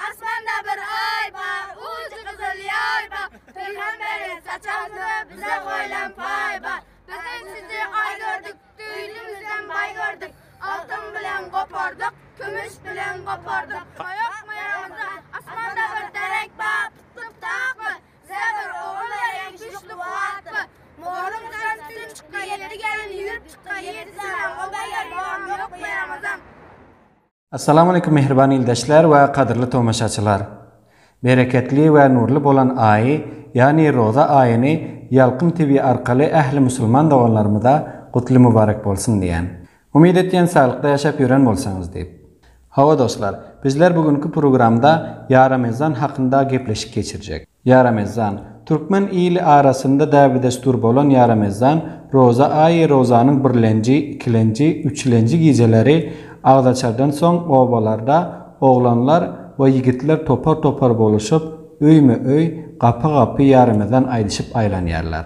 Asmanda bir Aý bar, ujy gyzyl ýaý bar, Pygamberiň saçan suwy bize goýlan paý bar. Biz hem sizi Aý gördük, düýnümizden baý gördük, Altyn bilen gopardyk, kümüş bilen gopardyk. Goýak myragyzda asmanda bir derek bar, Tutdup dakmy, bize bir ogul beriň, güýçli kuwwatly. Mollaň saçy tütin çykdy, ýetdi gelin ýüwürip çykdy, Ýedi sany oba ýer bolan ýok myragyzam. Assalamualeýkum mähriban ildeşler we gadyrly tomaşaçylar! Bereketli we nurly bolan aýy, ýagny roza aýyny Ýalkym TV arkaly ähli musulman doganlarymyza gutly mubarek bolsun diýýän. Umyt etýän saglykda ýaşap ýören bolsaňyz diýip. Hawa dostlar, bizler bu günki programda Ýaramezan hakynda gepleşik geçirjek. Ýaramezan. Türkmen ili arasynda däbi-desdur bolan Ýaramezan, roza aýy, rozanyň birlenji, ikilenji, üçlenji gijeleri agzaçardan soň obalarda oglanlar we ýigitler topar-topar boluşyp, öýme-öý, gapa-gapy Ýaramezan aýdyşyp aýlanýarlar.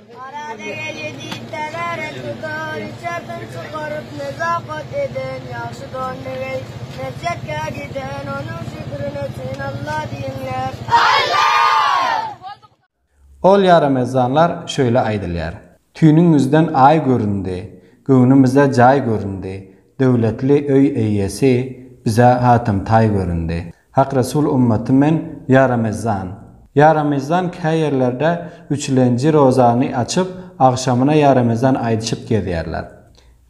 Arada gelýär diýseler, tutar içerden çykaryp nezakat eden ýagşy don negeý. Mesjetkä giden onuň şükrüne üçin Alla diýiňler. Alla! Ol ýaramezanlar şöýle aýdylýar. Tüýnüňizden aý göründi, göwnümize jaý göründi, döwletli öý eýýesi bize hatamtaý göründi. Hak Resul Ummaty men ýa Ramezan. Ýa Ramezan kä ýerlerde üçülenji rozany açyp, agşamyna ýa Ramezan aýdyşyp gezýärler.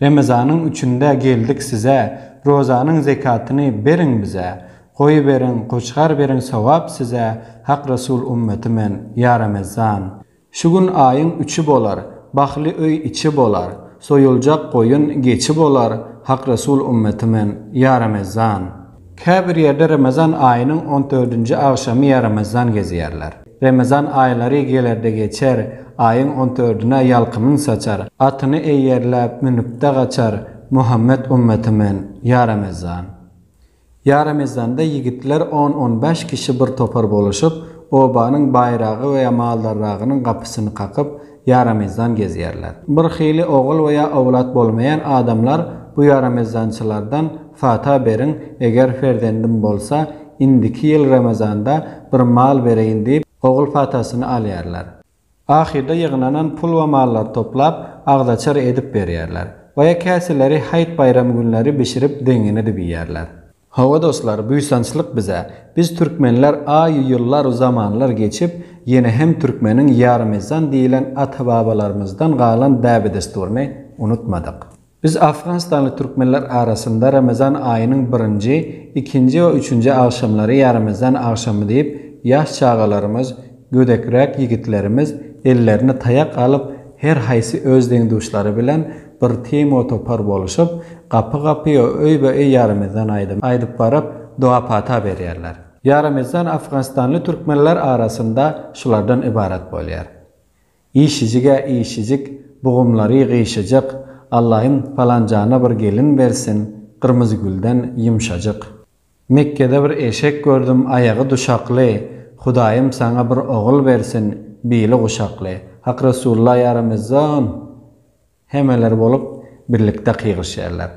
Remezanyň üçünde geldik size, rozanyň zekatyny beriň bize. Goýy beriň, goçgar beriň sogap size, Hak Resul Ummaty men ýa Ramezan. Şu gün aýyň üçi bolar, Bahly öý içi bolar, Soýuljak goýun geçi bolar, Hak Resul ümmeti men, ýa Remezan! Käbir ýerde Remezan aýynyň on dördünji agşamy ýa Remezan gezýärler. Remezan aýlary gelerde geçer, Aýyň on dördüne ýalkymyn saçar, Atyny eýerläp, münüpde gaçar, Muhammet ümmeti men, ýa Remezan! Ýaramezanda ýigitler on-on bäş kişi bir topar boluşyp, obanyň baýragy we maldarragynyň gapysyny kakyp, ýaramezan gezýärler. Bir hili ogul we ýa owlat bolmaýan adamlar bu ýaramezançylardan fata beriň, eger ferzendim bolsa, indiki ýyl Ramazanda bir mal bereýin diýip, ogul fatasyny alýarlar. Ahyrda ýygnanan pul we mallary toplap, agzaçar edip berýärler. Boýa käseleri haýt-baýram günleri bişirip zeňňin edip iýýärler. Hawa dostlar, buýsançlyk bize! Biz türkmenler aý-u ýyllar-u zamanlar geçip, ýene hem türkmeniň ýarymyzdan diýilen ata-babalarymyzdan galan däbe-dessuryny unutmadyk. Biz afganistanly türkmenler arasynda Ramazan aýynyň birinji, ikinji we üçünji agşamlary Ýaramazan agşamy diýip, ýaş çagalarymyz, gödekräk ýigitlerimiz ellerine taýak alyp, her haýsy öz deň-duşlary bilen bir timo-topar boluşyp, gapy-gapy we öýbe-öý Ýaramazan aýdymy aýdyp baryp, doga-pata berýärler. Ýaramazan afganistanly türkmenler arasynda şulardan ybarat bolýar. Işijig-ä işijik, bugumlary gyşajyk, Allaýym palanjana bir gelin bersin, Gyrmyzygülden ýumşajyk. Mekgede bir eşek gördüm, aýagy duşakly, Hudaýym saňa bir ogul bersin, bili guşakly. Hak Resulullah ýa Ramezan! Hemeler bolup birlikde kygyryşýarlar.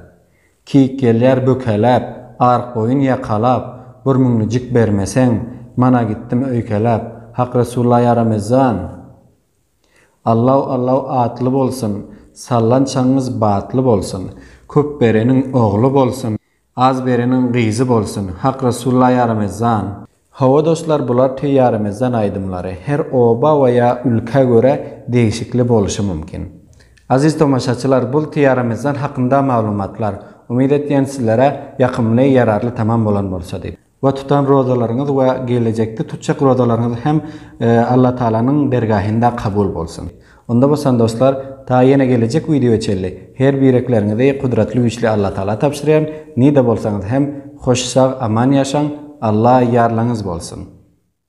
Kik gelýär bökeläp, ark-boýun ýakalap, Bir müňlüjik bermeseň, mana gitdim öýkeläp, Hak Resulla ýaramezan! Allaw, Allaw atly bolsun, sallançagyňyz batly bolsun, Köp bereniň ogly bolsun, Az bereniň gyzy bolsun. Hak Resulullah ya Ramezan. Hawa dostlar bular tüý ya Ramezan aýdymlary. Her oba we ya ülkä görä degişikli boluşy mümkin. Aziz tomaşaçylar bul tüý ya Ramezan hakynda maglumatlar. Umyt etýän sizlere ýakymly ýararly tamam bolan bolsa diýip. we tutan rozalaryňyz we gelejekde tutjak rozalaryňyz hem Alla Tagalanyň dergahynda kabul bolsun. Onda bolsa dostlar ta ýene gelejek wideoýa çenli her birekleriňizi Gudratly Güýçli Alla Tagala tabşyrýan, nide bolsaňyz hem hoş sag aman ýaşaň, Alla ýarlaňyz bolsun.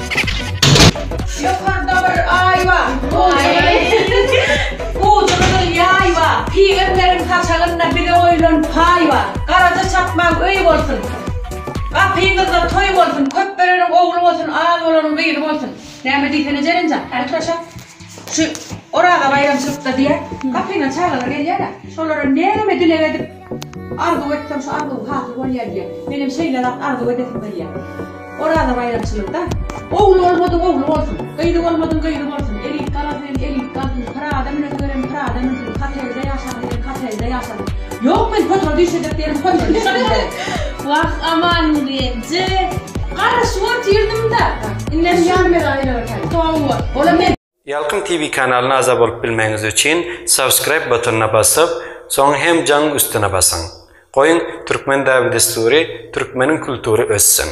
Ýokarda bir aý bar. Ujy gyzyl ýaý bar. Pygamberň saçagynda bize goýlan paý bar. Garaja çapmaň öý bolsun. Gapyňyzda toý bolsun. Köp bereniň ogly bolsun, az bolanyň gyzy bolsun. Näme diýsene Jelinjan, häli turaşa. Şu Oraza baýramçylykda diýä, gapyňa çagalar gelýär-ä. Şolara näme dileg edip, Arzuw etsem şu arzuw hasyl bolýar diýýär. Menem şeýleräk arzuw edesim gelýär. Oraza baýramçylygda. Ogly bolmadyň ogly bolsun. Gyzy bolmadyň gyzy bolsun. Elit galasyn elit galsyn. Pyrada münesi gelen pyrada münsün. Hotelde ýaşasyn diýen hotelde ýaşasyn. Ýok men potory düşürjek ýerim potory düşürjek. Wah aman genje. Garaşyp otyrdyň da. Indem ýarym ele aýlanaýsaň. Hawa. Olam. Ýalkym TV kanalyna agza bolup bilmegiňiz üçin subscribe butonyna basyp, soň hem jaň üstüne basyň. Goýuň Türkmen dabi-dessury, Türkmeniň kultury össin!